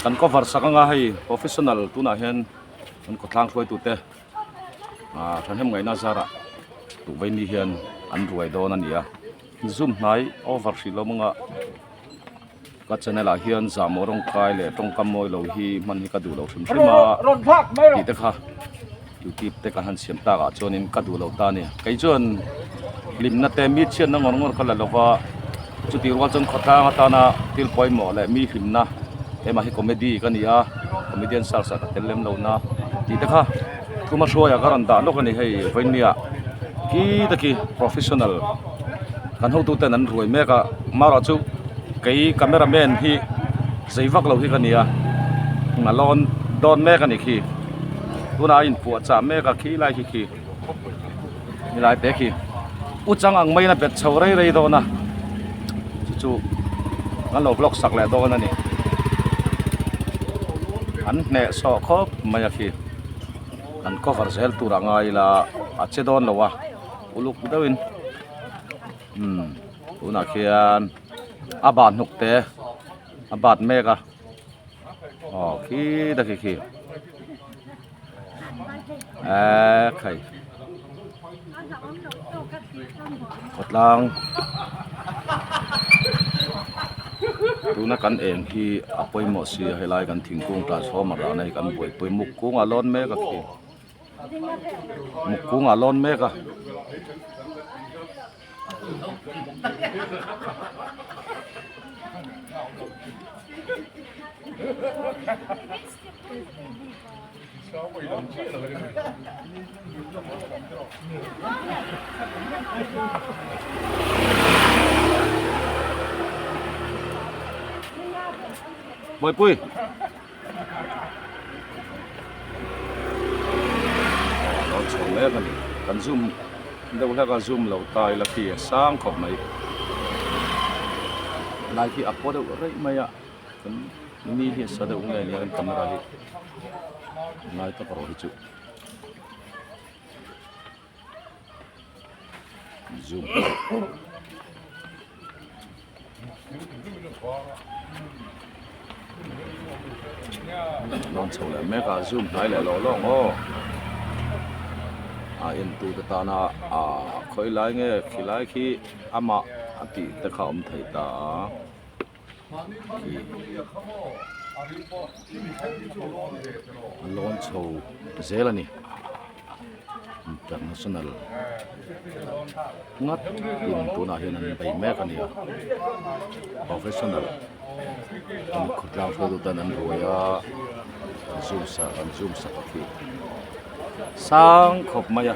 kan cover sak anga hei professional tunah hian kan khawtlang hruaitute ah thahnem ngaihna zarah tukverhni hian an ruai dawn a ni a zoom hnai over hrih loh mawngah ka channel ah hian zamawrawngkai leh tawngkam mawilo hi hman hi ka duhloh hrim hrima tihte kha. Youtube te ka han siam tlak ah chuan in ka duh lo ta a ni kei chuan hlim na te mi chhiat na ngawr ngawr ka la lo va chu tih rual chuan khawtlang atan a thil pawimawh leh mi hlim na eng mah hi comedy ka ni a comedian sal sat a tel lem lo na tih te kha thuma hruai ah ka rawn dah lawk a ni hei vawinia khi tak i professional kan ho tu ten an ruai mek a mar ah chu kei camera man hi zei vak lo hi ka ni a nghalawm dawn mek a ni khi. tunah a inpuah chah mek a khi lai khi khi ni lai pek hi u chang ang maiin a bet chho rei rei dawn a chu chu kan lo vlog sak leh dawn a ni an hneh saw khawp mai a khi kan cover zel turah ngai ila a che dawn lo a uluk deuhin umm tunah khian a bat hnuk te a bat mek a aw khi ta khi khi Aa khai Khawtlang Tuna kan eng hi a pawimawh si a helai kan thingkung tlan sawma rahna hi kan buaipui muk kungah lawn mek a khi muk kungah lawn mek a Boy Pui. Lo chhawm mek a ni. Kan zoom deuh hlek a, zoom lo ta ila khi a sang khawp mai. Light hi a paw deuh raih mai a, chuan ni hi a sa deuh ngei ania kan camera hi ngai tak a rawh hi chu. Nawn chho leh mek a zoom hnai leh loh loh maw a en tu te tan a a khawi lai nge khi lai khi amah a tih te kha awm thei ta a. lawn chho zel a ni international ngat in tunah hian an bei mek a ni a professional hemi khawtlang sawitu te hian an ruai a an zumsa an zumsa tawh khi sang khawp mai a.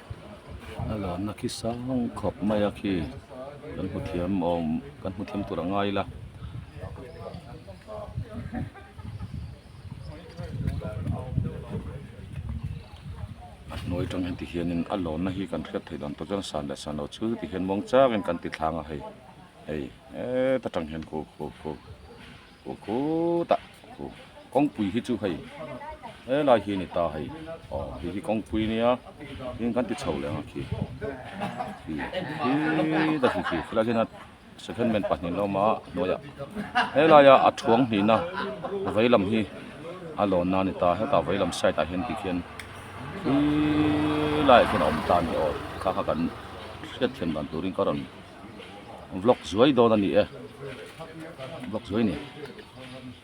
a luanna khi sang khawp mai a khi kan hmu thiam awm kan hmu thiam tur a ngai ila a hnuai tang hian tihianin a luanna hi kan hriat theih dan tawh chuan san leh sanno chhu ti hian mawng chak in kan ti thlang a hei hei heta tang hian kho kho kho. Khua khutah khu kawngpui hi chu hei helai hi a ni ta hei aw hei hi kawngpui a nia heng kan ti chho leh ang a khi khi khi ta khi khi khilai hian a second man pahnihin a awm a a hnuaiah helai a a thuang hnihna vei lam hi a lawn na a ni ta hetah vei lam side ah hian tih khian khi laiah khian a awm ta a ni aw thla kha kan hriat thiam dan turin ka rawn-- vlog zuai dawn a ni e vlog zuai ni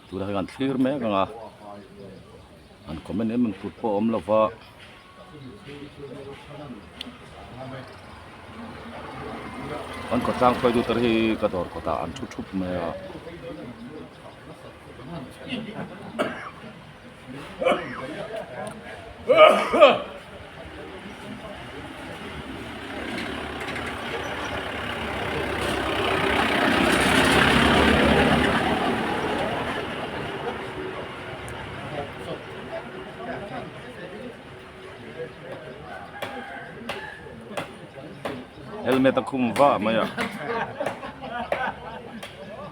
tuna hi a han thlir mek ang a an comment em em kut pawh a awm lo va. an kawt tlang khuai duter hi ka dawr kawtah an thu thup mai a helmet a khum va mai a.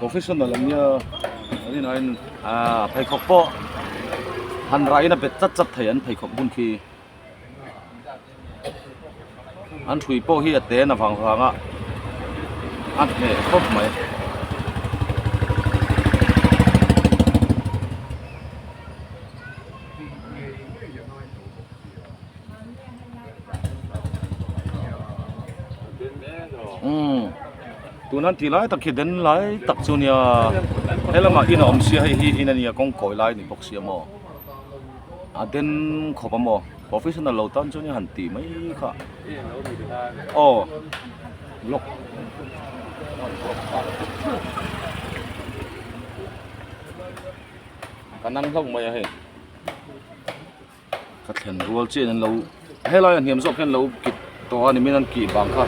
professional ang nia ani nain a pheikhawk pawh han rah in a bet chat chat thei an pheikhawk hun khi. an ṭhui pawh hi a ten a vang vang a a hneh khawp mai. tuna an tih lai tak hi den lai tak chu nia he lamah in a awm sia hei hi in a nia kawngkawi lai ni bawk si a maw. A den khawp a maw? Professional lo tan chuan han tih mai kha. Aw. Lock. Ka nang hlauh mai a hei. Ka thlen rual chen an lo. Helai an hiam zawk hian lo kit tawh a ni min an kih vang kha.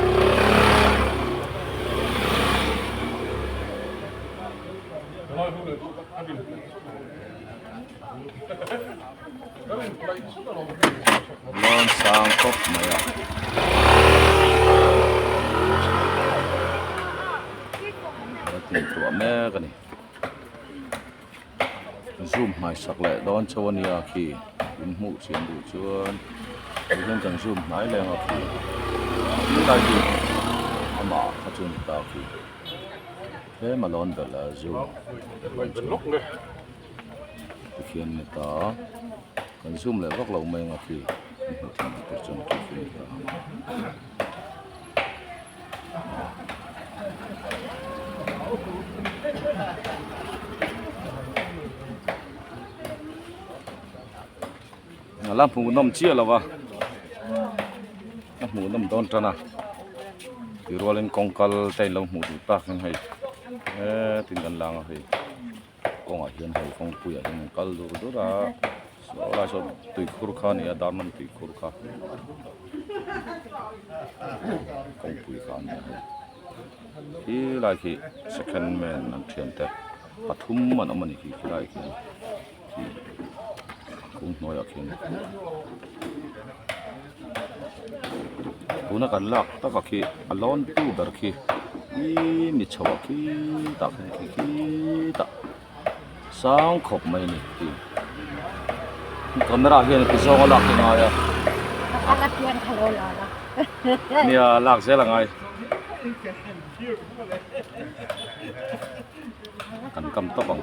Lawn sang khawp mai a. Ka tin tuah mek a ni. Zoom hmaisak leh dawn chho a nia khi in hmuh chian duh chuan kei hian kan zoom hnai leng a khi. Tilai hi amah kha chu a ni ta khi. Tlem a lawn belh a zoom. Pathian heta kan zoom leh vak lo mai anga khi kan hmuh theih loh tur chuan Pathian heta ang a a la hmuh nawm chiah lo va a hmuh nawm dawn tan a tirualin kawngkal te in lo hmuh duh tak hian hei he tin kan langa hei. kawngah hian hei kawngpuia hian an kal dur dur a helai sawn tui khur kha a ni a darman tui khur kha kawngpui kha a ni a hei khi lai khi second man an thian te pathum an awm a ni khi khi lai khi khi khum hnuaiah khian. tuna kan lak taka khi a lawn tu ber khi i ni chho a khi ta kha ni khi khi ta sang khawp mai ni tih i camera ah hian i ti zawng a lak hi ngai a nia lak zel a ngai kan kam tawp ang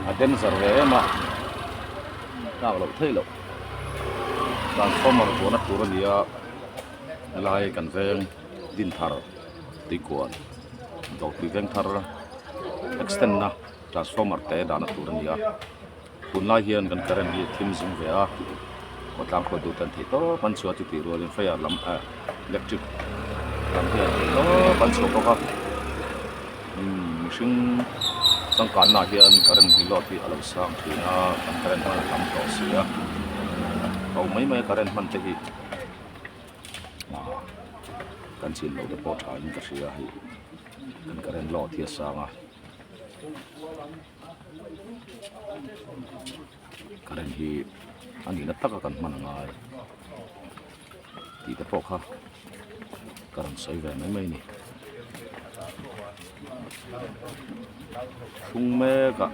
a danger ve em a tlak loh theih loh transformer tluahna tur a nia helai kan veng din thar tuikuan dawr tui veng thar extend na transformer te dahna tur a nia. Tunlai hian kan current hi thim zung ve a, aw tlang khawt duh tan thei tawp an chhuah chuti rual in fire lam ah electric lam hi an thei tawp an chhuah bawk a, umm mihring changkah na ah hian current hi load hi a lo sang thin a, kan current hman a tam tawh si a, ho mai mai a current hman te hi, ah kan chin loh te pawh tha in ka hria hei kan current load hi a sang a. Karen hi a nihna taka kan hman a ngai tihte pawh kha ka rawn sawi ve mai mai a ni. Hring mekah.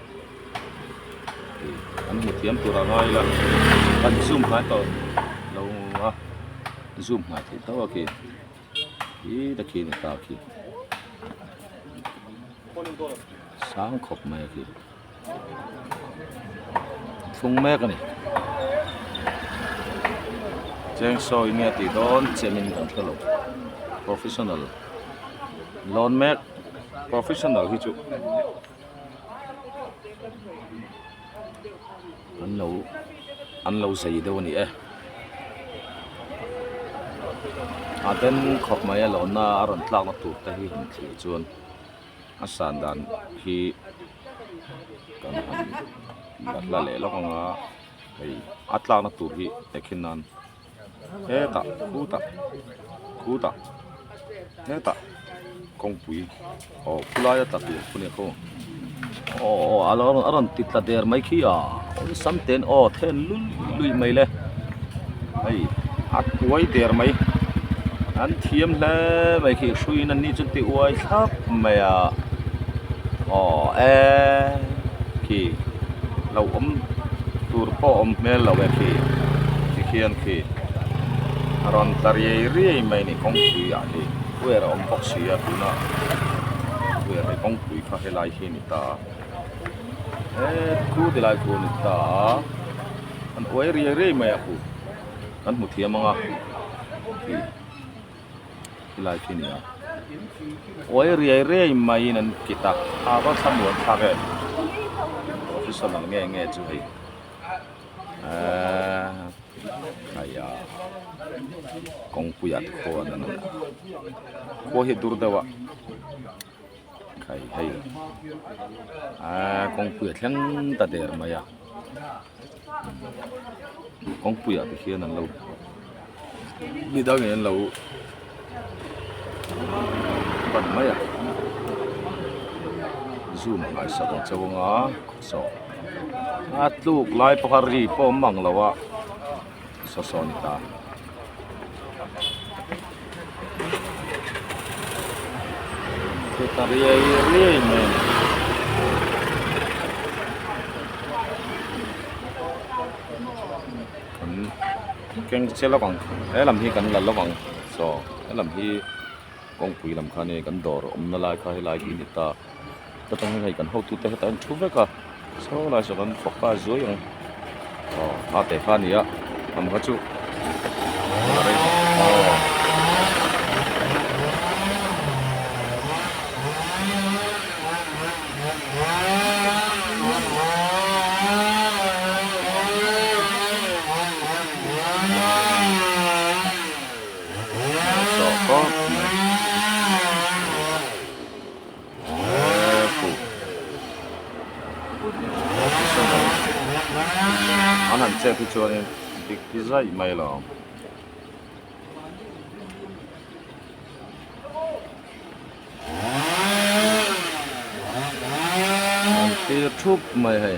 an muthiam tur ang a ila an zoom nghal tawh lo a zoom nghal theih tauh a khi khi ta khi a ni ta khi sang khawp mai a khi thlung mek a ni cheng sawi nge a tih dawn chian in kan hre lo professional lawn mek professional hi chu. an lo an lo zei deuh a ni e a then khawp mai a lawn na a rawn tlak na tur te hi han thlir chuan a san dan hi kan han la hla leh lawk ang a hei a tlak na tur hi hekhin nan-- hetah khu tah khu tah hetah kawngpui aw khu laia tla tur khu nia khaw aw a lo a rawn ti tla der mai khi a awh sam ten aw then lul lui mai le hei a kuai der mai an thiam hle mai khi hrui in an ni chu ti uai thlap mai a aw eee khi. lo awm tur pawh awm hmel lo e khi ti khian khi a rawn ta riai riai mai a ni kawngpui ah hi puier a awm bawk si a tuna puier leh kawngpui kha helai hi a ni ta a eh thu ti lai thu a ni ta a an uai riai riai mai a kut kan hmu thiam ang a khi. Tilai khi ni a, uai riai riai maiin an kit a, tha va tha mual thlak e, officer lam nge nge chu hei eh ai ya kawngpuiah te khaw an en a, khua hi a dur deuh a. hei aaa kawngpuia thleng ta der mai a kawngpuia te hian an lo ni dangin an lo pan mai a zoom a ngaihsak ang che vang a a tluk lai pawh kha ri pawh awm ang lo a. sawsawni ta. Chu ta riai riai mai a ni. keng che lawk ang he lam hi kan la lawk ang chaw he lam hi kawngpui lam kha nen kan dawr awmna lai kha helai hi a ni ta. Heta hian hei kan hotu te heta hian thu vek a saw lai saw kan fawk nghal zuai ang aw hah teh kha a ni a kan kha chu an han chep hi chuanin dik hi zaih mai lo. An thlir thup mai hei.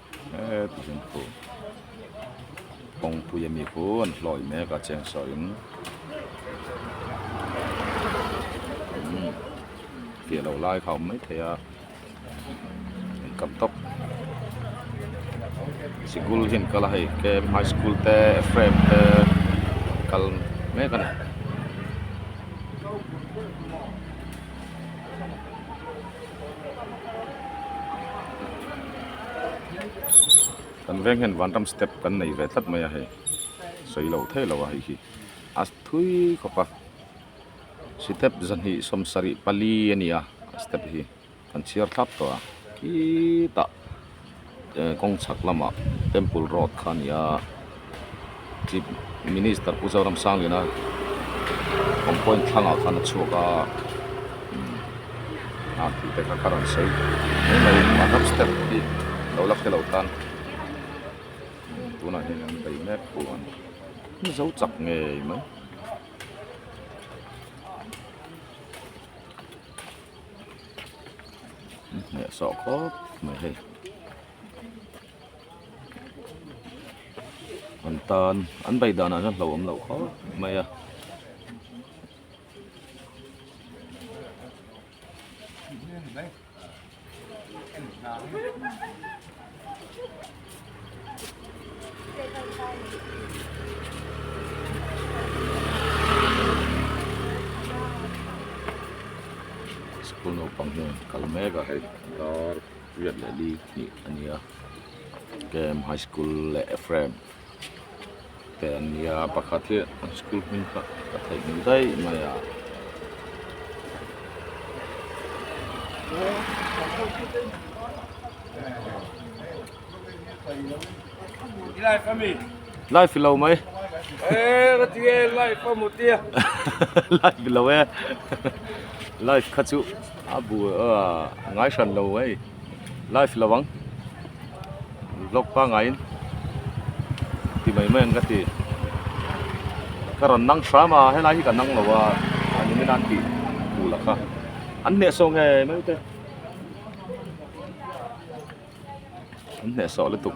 Eee takin thu kawngpuia mi pu an hlawi mek a cheng saw in umm tih loh lai kha a awm mai thei a an tam tawk sikul hi an kal a hei kem high school te frame te an kal mek a ni. kan veng hian vanram step kan nei ve tlat mai a hei sawi lo thei lo a hei hi a thui khawp a step zahnih sawm sarih pali a ni a step hi kan chhiar thlap tawh a khitah. kawng chhak lamah temple road kha a ni a chief minister pu zoram sangliana awm pawhin thlangah khan a chhuak a a thil te kha ka rawn sawi step hi lo la khelh lo tan tunah hian an bei mek pawh a ni zo chak ngei mai. Hmeh sawh khawp mai hei. An tan, an bike danah chuan hlauhawm loh khawp mai a. School naupang hian an kal mek a hei dar riat leh li hnih a nia kem high school leh frame . te an ni a pakhat hi an school hming kha ka theih ngei daih mai a. Life ami. Life lo mai. Eh, ka ti e life amu ti. Life lo e. Life kha chu a bu a ngai hran lo mai. live lo ang vlog pangai in ti mai mai ang ka ti ka rawn nang hram a helai hi ka nang lo a ani min an ti tu la kha an hne so nge mai te an hne so le tuk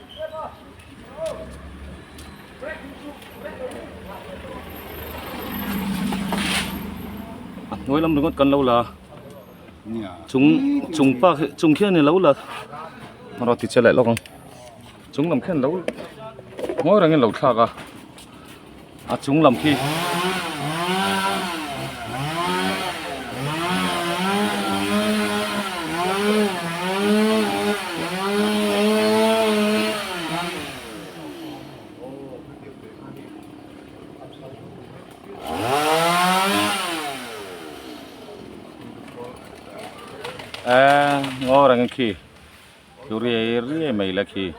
a hnuai lam ringawt kan lo la chung chung pa chung khian in lo la rawh ti che leh lawk ang chung lam khian lo ngawi reng in lo thlak a a chung lam khi eng ngaw reng khi. Chu riai riai mai la khi.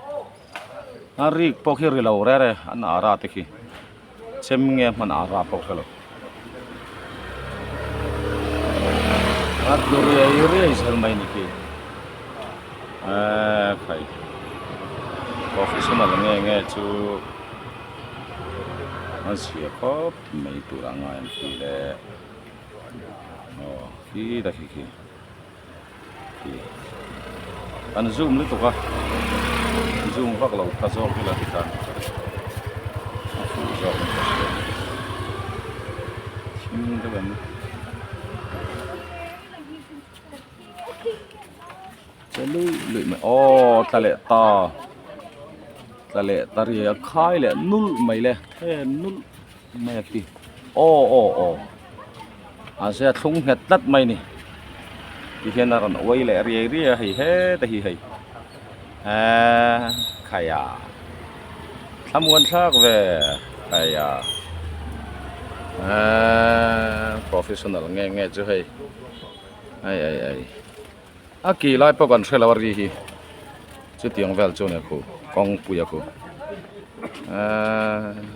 A rik pawh khi ri lo rer e, an ara te khi. Chem nge a hman ara pawh hre lo. A chu riai riai zel mai ni khi. A khai. Professional nge nge chu an sia khawp mai tur a ngai ang khi le. Aw khi ta khi khi. An zoom lutuk a, zoom vak lo kha zawk ila ti khan a fuh zawk ang ka ti a, chhim deuh em che luih luih mai aww tla leh ta tla leh ta ria khai leh nulh mai le thlen nulh. Mai a ti. Aw aw aw. An zia thlung nghet tlat mai ni. Ti hian a rawn uai leh riai riai a hei heta hi hei. Aa khaia. Thlamuan thlak ve khaia. Aa professional nge nge chu hei. Ai ai ai. A kih lai pawh kan hre lo a ri hi chutiang vel chu nia khu kawngpuia khu eeii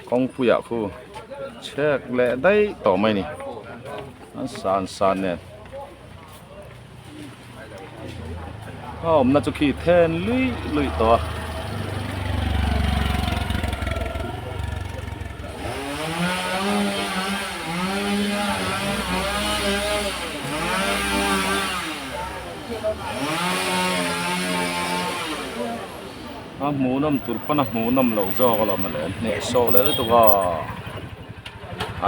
kawngpuia khu chhek leh daih tawh mai ni an san san nen. A awmna chu khi then luih luih tawh a. A hmuhnawm tur pawn a hmuhnawm loh zawk alawm a leh hnehsawh leh lutuk a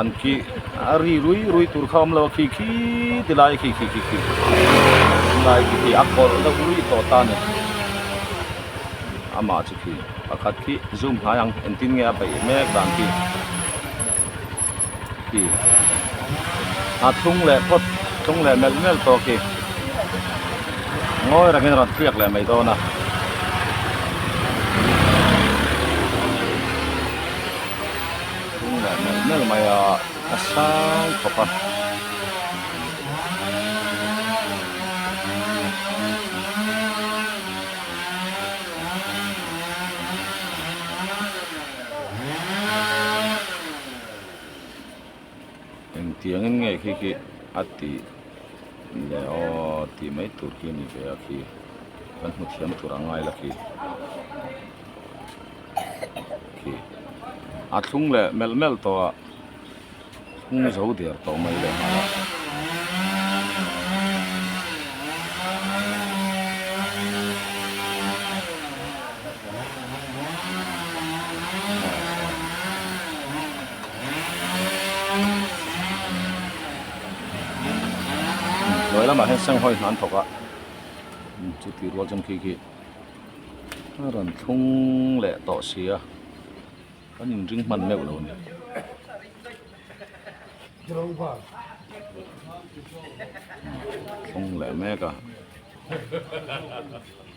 an khi a ri rui rui tur kha a awm lo a khi khi ti lai khi khi khi khi lai khi khi a kawlh deuh rui tawh ta ni amah chu khi pakhat khi zoom hnai ang engtin nge a beih mek dan khi. hi a thlung leh phawt thlung leh melh melh tawh khi ngawi rangin a rawn tliak leh mai dawn a thlung leh melh melh mai a a sang khawp a engtiang in nge khi khi a tih leh aw tih mai tur khi a ni ve a khi kan hmu thiam tur ang ngai la khi khi a thlung leh melh melh tawh a hung zo der tawh mai leh nghal a Hnuai lamah hian Senghawi hnan thawkah chu tih rual chhan khi khi a rawn thlung leh tawh si a, kan in ring hman meuh lo ni. Thlung leh mek a.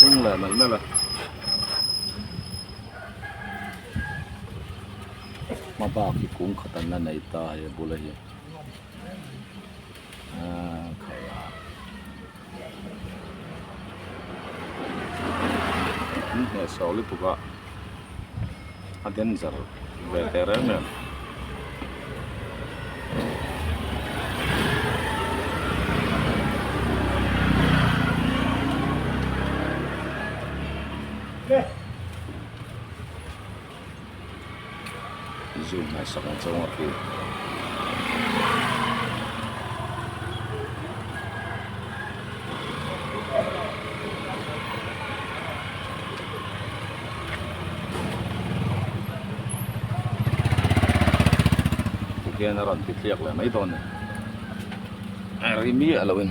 Hung leh mai mel a Hma bak hi kung khatan a nei ta hei a bul a hi. an heh sawh lutuk a a danger ve teh reng reng. zoom hnai sak ang chauh anga hrilh hian a rawn ti tliak leh mai dawn a ri miah lohin.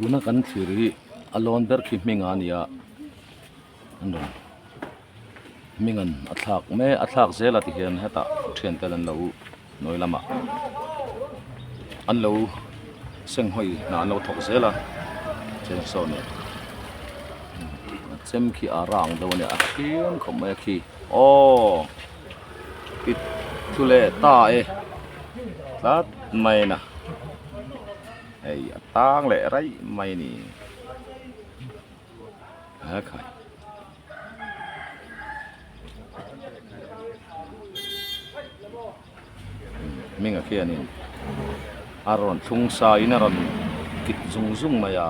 tuna kan thlir hi a lawn ber khi hming a nia an rawn hming an a thlak mek a thlak zel a ti hian hetah thian te an lo hnuai lam a an lo seng hawi hnah an lo thawk zel a cheng saw nen a chem khi a rang deuh a nia a hring khawp mai a khi aww. i thu leh ta e tlat mai in a hei a tang leh raih mai a ni helai hming a khian in a rawn thlung sa in a rawn kip zung zung mai a.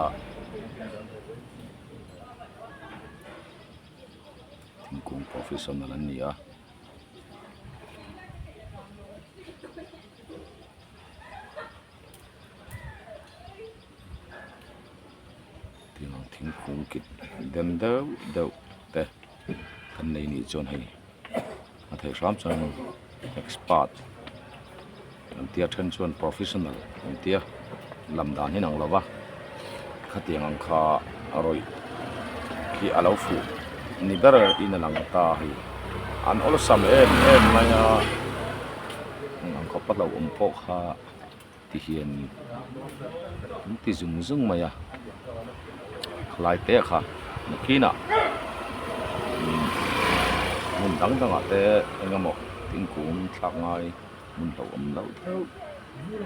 thingkung professional an ni a thingkung kip deuh deuh te kan nei ni chuan hei-- a thei hram chuan in expert kan tia then chuan professional kan tia lam dan hi an ang lova khatiang ang kha a rawih khi a lo fuh ni ber in a lang ta a hei an awlsam em em mai a an khawpa hlauhawm pawh kha-- ti hi an ni an ti zung zung mai a khlai te kha nakhin ah hmun dang dang ah te eng emaw thingkung thlak ngai hmun hloh awm loh deuh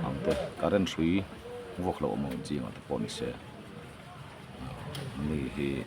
ang te current hrui vuak loh awm ang chiang ah te pawh ni se mi hi--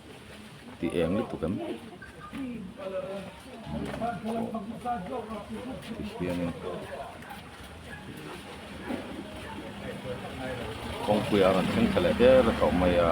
tih eng lutuk em hianin kawngpuia rawn thleng ta leh ber a tawh mai a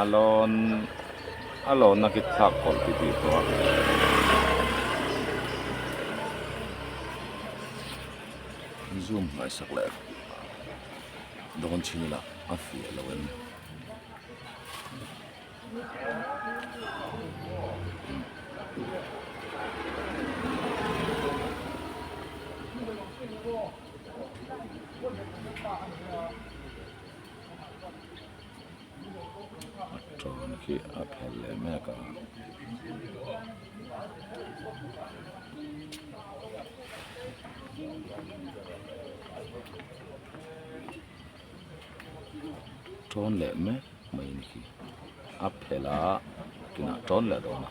a lawn a lawn a kik thlak pawlh ti ti tawh a. Zoom hnai sak leh rawh dawn thin ila a fiah lo em ni. pawn khi a phel leh mek a. Tawn leh mek mai in khi a phel a tunah tawn leh dawn a.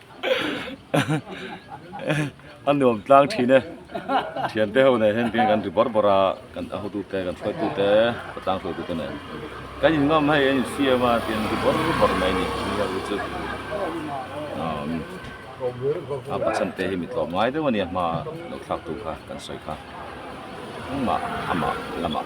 a nuam tlang thin e thiante ho nei hian keng kan ri bawr bawr a kan a hotu te kan hruaitu te a tlang hruai tu te nen kan in ngam hei an in siam a tian ri bawr bawr mai a ni tih a ri chu umm a pa chhan te hi mi tlawm ngai deuh a nia hma lo thlak tu kha kan sawi kha engmah amah lamah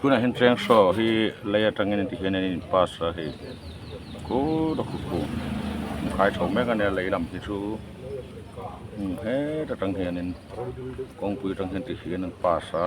tunah hian chiang saw hi lei atangin ti hian an in pass a hei kut a kut pawh a khai tho mek a nia lei lam hi chu hmun het atang hianin kawngpui atang hian ti hian an pass a.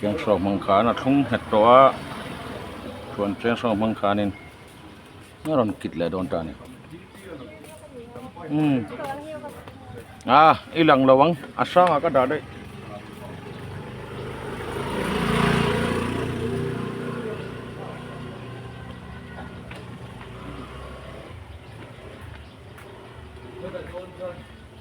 Thiang chhuak hmang khan a thlung nghet tawh a, thuan chiang chhuak hmang khanin a rawn kit leh dawn ta a ni. Umm. A, i lang lo ang, a sangah ka dah daih.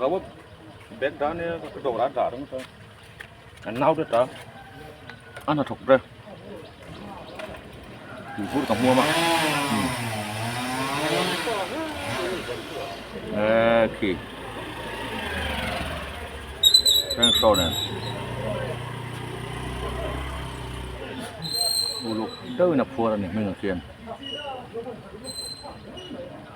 Rawt bag dah ania ka hre dawrah a dah reng chuan an nau ret a, a hna thawk ber. Tui fur ka hmuam a. Eh, khi. Thanks, Sonen. Uluk deuhin a phuar a ni hming ang khian.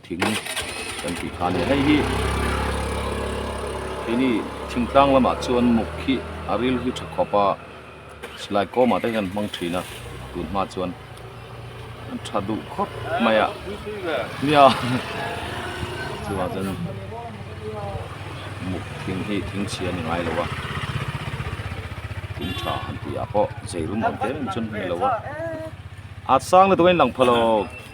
Thing kan tih kha a ni. Hei hi kei ni thingtlang lamah chuan muk khi a ril hi tha khawp a, silai kawmah te hian an hmang thin a, tun hma chuan an tha duh khawp mai a, nia chungah chuan muk thing hi thing chhia a ni ngai lo a, thing tha han tihah pawh zeirum ang te rawh ni chuan hman lo a, a sang lutuk a inlang phawlawk.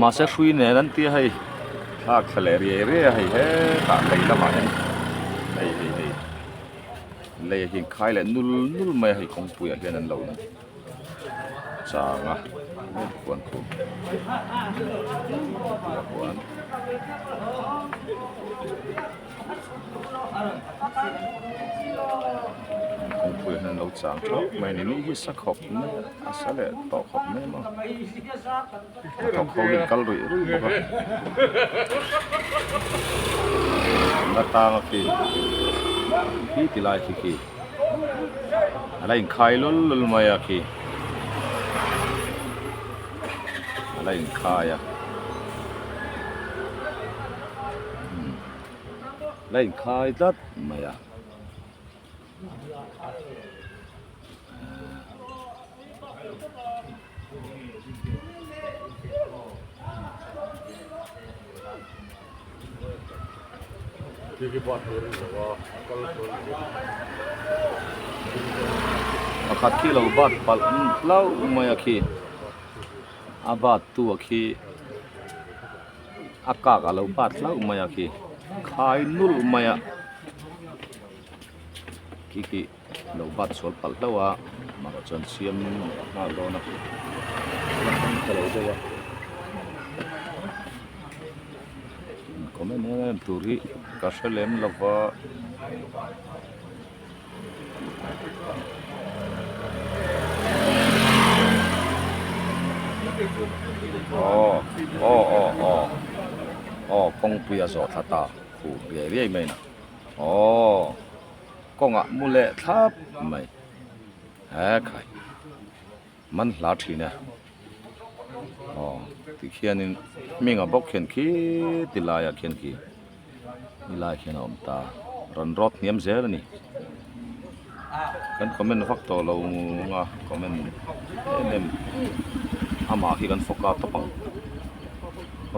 Mahse hrui nen an tia hei hlak thla leh riai riai a hei hetah lei lamah hian hei hei hei lei a inkhai leh nul nul mai a hei kawngpuiah hian an lo chang a puan khum tih a huan. kawngpui hian lo chang tawh mai ni ni hi sa khawp mai a sa leh tawh khawp mai maw hnathawk ho hian a kal ruih ruih bawk a tang a khi khi ti lai khi khi a la in khai lul lul mai a khi a la in khai a. la inkhai tlat mai a pakhat khi lo bat palh hlau mai a khi a bat tu a khi. a kak a lo bat hlauh mai a khi khai nul mai a khi khi a lo bat sual palh hlauh a amaherawh chuan siam leh a nghal dawn a ka lo daih a comment em em tur hi ka hre lem lova. Aww aww aww aww aww kawngpuia zawh thla ta fuh riai riai mai in a aww kawngah mu leh thlap mai hekhaih. man hla thin e aw tikhianin hming a bawk khian khi ti laiah khian khi ni lai khian a awm ta rawn rawt hniam zel a ni kan comment vak tawh lo ngung a comment em em amah khi kan fawk a tawp ang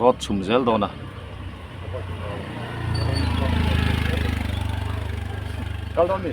rawt chhum zel dawn a kal dawn mi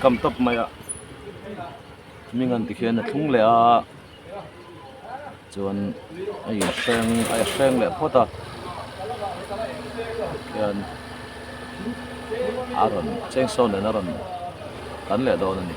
kam tawp mai a hming an ti khian a thlung leh a. chuan a in hreng a hreng leh phawt a khian a rawn chengsawn nen a rawn kan leh dawn a ni.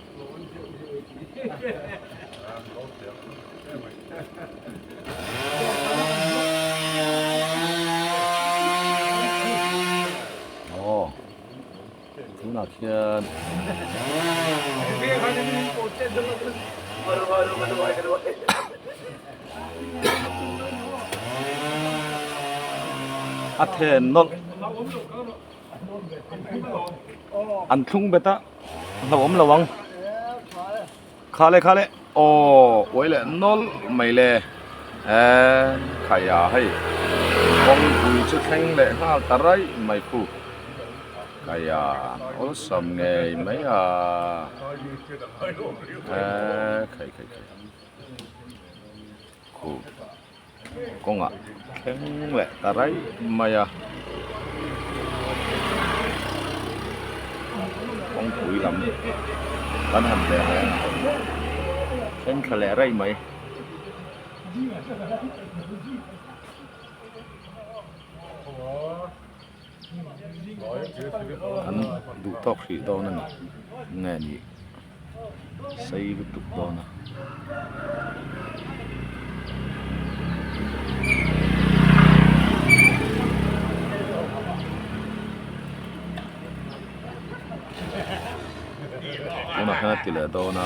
Aw, tunah khian a then nawlh an thlung bet a hlauhawm lo ang kha le kha le aw uai leh nawl mai le eee khaia hei kawngpui chu thleng leh nghal ta raih mai khu khaia awlsam ngei mai a eee khai khai khai khu. kawngah thleng leh ta raih mai a, kawngpui lam kan han ve ve a, thleng thla leh raih mai. An duh tawk hrih dawn a ni nge ni. sei lutuk dawn a. Tunah hian a ti leh dawn a.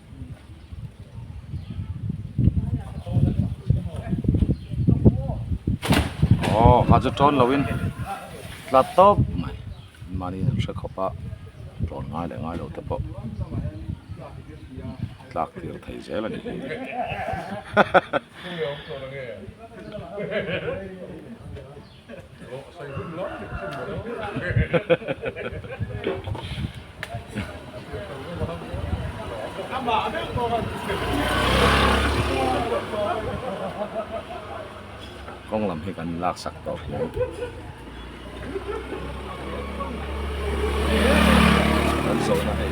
aw kha chu tawn lo in tlat tawp mai mahni in an hre khawp a tawn ngai leh ngai lo te pawh tlak tir thei zel a ni hi hahaha. kawng lam hi kan lak sak tawh hle kan zawhna hei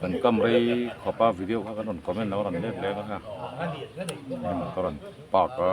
kan kam rei khawpa video kha kan rawn comment lo a rawn lek lek a heng motor an park a.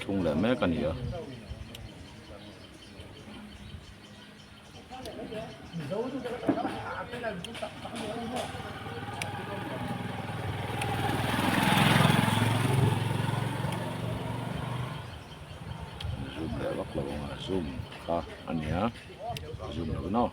Chhung leh mek a ni a. Zoom leh vak lo ang a, zoom kha a ni a, zoom lo nawh.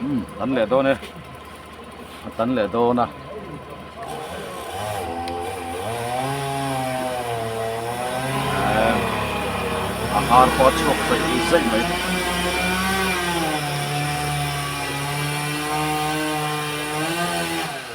um tan leh dawn e a tan leh dawn a a har pawh a chhuak zai zai mai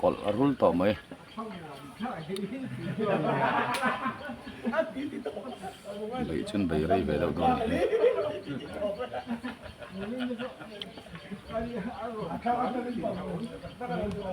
kawlh a rul tawh mai. Beih chun beih rei ve deuh dawn a ni.